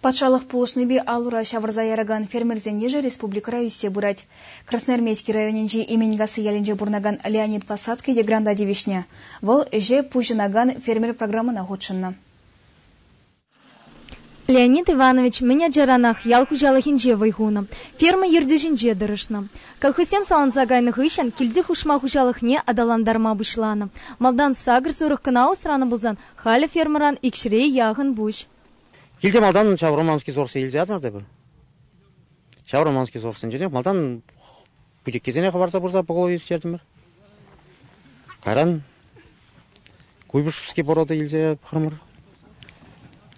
Патшалӑх пулӑшнипе ал-ура ҫавӑрса яракан фермерсен йышӗ республикӑра ӳссе пырать. Красноармейски районӗнчи Именкасси ялӗнче пурӑнакан Леонид посадки дегранта тивӗҫнӗ. Вӑл ӗҫе пуҫӑнакан фермер программӑна хутшӑннӑ. Леонид Иванович мӗн ачаранах ял хуҫалӑхӗнче вӑй хунӑ, ферма ертӳҫинче тӑрӑшнӑ. Колхозсем саланса кайнӑ хыҫҫӑн килти хушма хуҫалӑхне аталантарма пуҫланӑ. Малтан сакӑр-сорок кӑна усранӑ пулсан Халӗ фермӑран ик ҫӗре яхӑн пуҫ. Килте малтан ҫав Романский сорсе илсе ятӑмӑр та пӗр. Ҫав Романский сорсенчен малтан путеккесене хӑварса пырса поголовье ӳстертӗмӗр. Кайран Куйбышевский порода илсе пӑхрӑмӑр.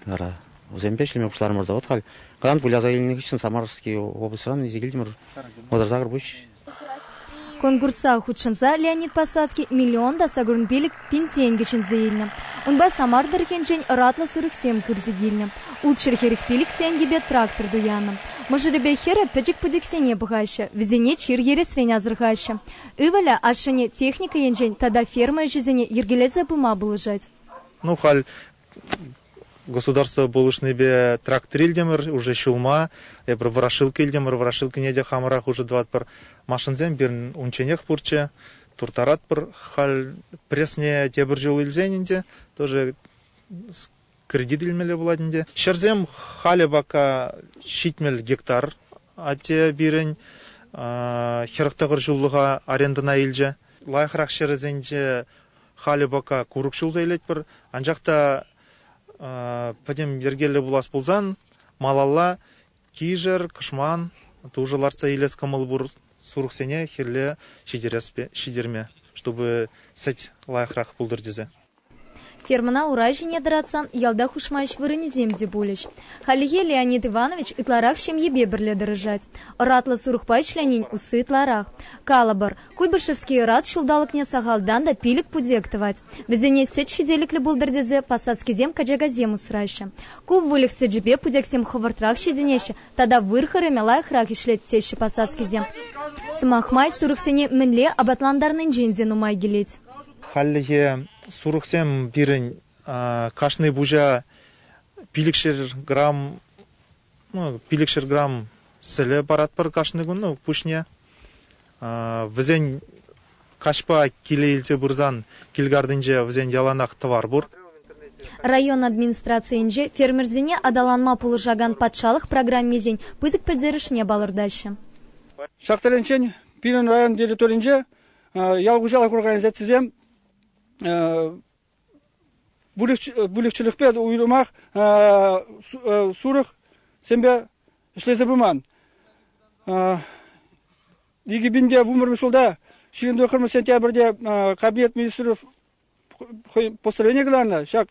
Вара вӗсемпе ӗҫлеме пуҫларӑмӑр та вот халь. Кайран выляса илнӗ хыҫҫӑн Самарский облаҫран илсе килтӗмӗр. Вӑтӑр сакӑр пуҫ Конкурса хутшӑнса Леонид Посадский миллион та сакӑрӑн пилӗк пин тенкӗ ҫӗнсе илнӗ. Унпа Самар тӑрӑхӗнчен ӑратлӑ сырӑхсем кӳрсе килнӗ. Улт-ҫӗрхех пилӗк тенкӗпе трактор туяннӑ. Мӑшӑрӗпе хӗрӗ пӗчӗк пӗчӗксене пӑхаҫҫӗ, вӗсене чир ересрен асӑрхаҫҫӗ. Ывӑлӗ ашшӗне техника енчен тата ферма ӗҫӗсене йӗркелесе пыма пулӑшать. Ну, халь государство пулӑшнипе трактор илтӗмӗр уже ҫулма. Эпир ворошилка илтӗмӗр. Ворошилкине те хамӑрах уже тӑватпӑр. Машинсем пирӗн унчченех пурччӗ. Турттаратпӑр. Халь пресне тепӗр ҫул илсен ӗнтӗ тоже кредит илмелле пулать ӗнтӗ. Ҫӗрсем халӗ пока ҫитмӗл гектар. Атте пирӗн хӗрӗх тӑхӑр ҫуллӑха арендӑна илчӗ. Лайӑхрах ҫӗрӗсенче Халӗ пока курӑк ҫулса илетпӗр, анчах та пӗтӗм йӗркеллӗ пулас пулсан малалла кишӗр, кӑшман, тушӑ лартса илес кӑмӑл пур сурӑхсене хӗлле ҫитерме, чтобы сӗт лайӑхрах пултӑр тесе. Фермӑна ура ҫине тӑратсан ялта хушма ӗҫ вырӑнӗсем те пулӗҫ. Хальлӗхе Леонид Иванович ытларах ҫемьепе пӗрле тӑрӑшать. Ӑратлӑ сурӑхпа ӗҫленин усси ытларах. Калӑпӑр, Куйбышевский ӑрат ҫулталӑкне сахалтан та пилӗк путек тӑвать. Вӗсене сӗт ҫителӗклӗ пултӑр тесе посадскисем качакасем усраҫҫӗ. Ку выльӑх сӗчӗпе путексем хӑвӑртрах ҫитӗнеҫҫӗ тата выр хӑрӑмӗ лайӑхрах ӗҫлет теҫҫӗ посадскисем. Сӑмах май, сурӑхсене мӗнле апатлантарнинчен те нумай килет. Хальлӗхе сурӑхсем пирӗн кашни пуҫа пилӗкшер грамм пилӗкҫӗр грамм сӗлӗ паратпӑр кашни кун пуҫне. Вӗсен каҫпа киле илсе пырсан кил картинче вӗсен яланах тӑвар пур. Район администрацийӗнче фермерсене аталанма пулӑшакан патшалӑх программисен пысӑк пӗлтерӗшне палӑртаҫҫӗ. Ҫак тӗлӗнчен пирӗн район территорийӗнче ял хуҫалӑх организацийӗсем выльӑх-чӗрлӗхпе уйрӑмах сурӑхсемпе ӗҫлесе пыман. Икӗ пин те вунпӗр ҫулта ҫирӗм тӑххӑрмӗш сентябрьте Кабинет министров постановление кӑларнӑ. Ҫак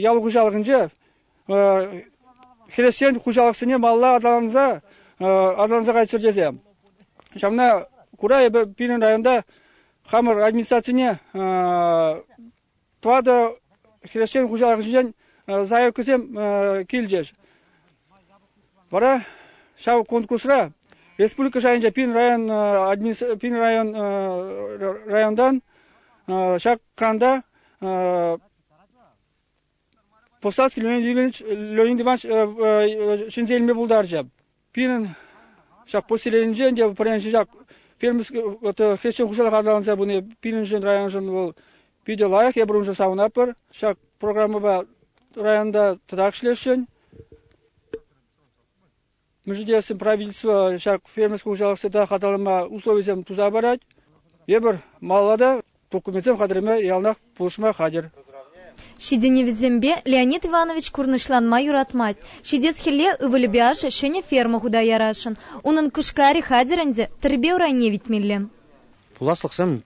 ял хуҫалӑхӗнче хресчен хуҫалӑхсене малла аталанса аталанса кайччӑр тесе. Ҫавна кура эпӗ пирӗн районта хамӑр администрацине тӑватӑ хресчен хуҫалӑхӗнчен заявкӑсем килчӗҫ. Вара ҫав конкурсра республика шайӗнче пин район, пин район районтан ҫак кранта Повстанский Леонид Иванович ҫӗнсе илме пултарчӗ. Пирӗн ҫак поселенинчен те пӗрремӗш ҫак фермер хресчен хуҫалӑх аталанса пыни пирӗншӗн, районшӑн вӑл питӗ лайӑх. Эпир уншӑн савӑнатпӑр. Ҫак программӑпа районта тӑтах ӗҫлесшӗн. Мӗшӗтессин правительство ҫак фермерский хуҫалӑх тӑтах аталанма условисем туса парать. Эпир малалла та Документсем хатӗрме яланах пулӑшма хатӗр. Ҫитӗнӗвӗсемпе Леонид Иванович курнӑҫланма юратмасть. Ҫитес хӗлле ывӑлӗпе ашшӗ ҫӗнӗ ферма хута ярасшӑн. Унӑн кӑшкарӗ хатӗр ӗнтӗ, тӗрпе урайне витмелле. Пуласлӑхсем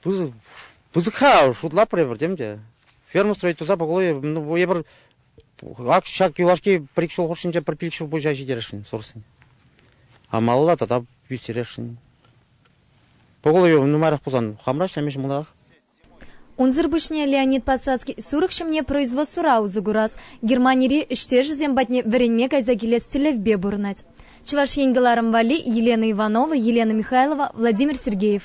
пысӑк-ха, шутлатпӑр эпир тем те. Ферма строительство пӑклӑ эпир ҫак юлашки пӗр-ик ҫул хушшинче пӗр пилӗк ҫул пуҫа ҫитересшӗн сорсен. Амалла тата ӳстересшӗн. Поголовьев нумайрах пулсан хамра ӗҫлеме ҫӑмӑлрах. Унсӑр пуҫне Леонид Подсадский сурӑх ҫӑмне производствӑра усӑ курас, Германири ӗҫтешӗсем патне вӗренме кайса килес тӗллевпе пурӑнать. Чӑваш Ен кӑларӑм валли Елена Иванова, Елена Михайлова, Владимир Сергеев.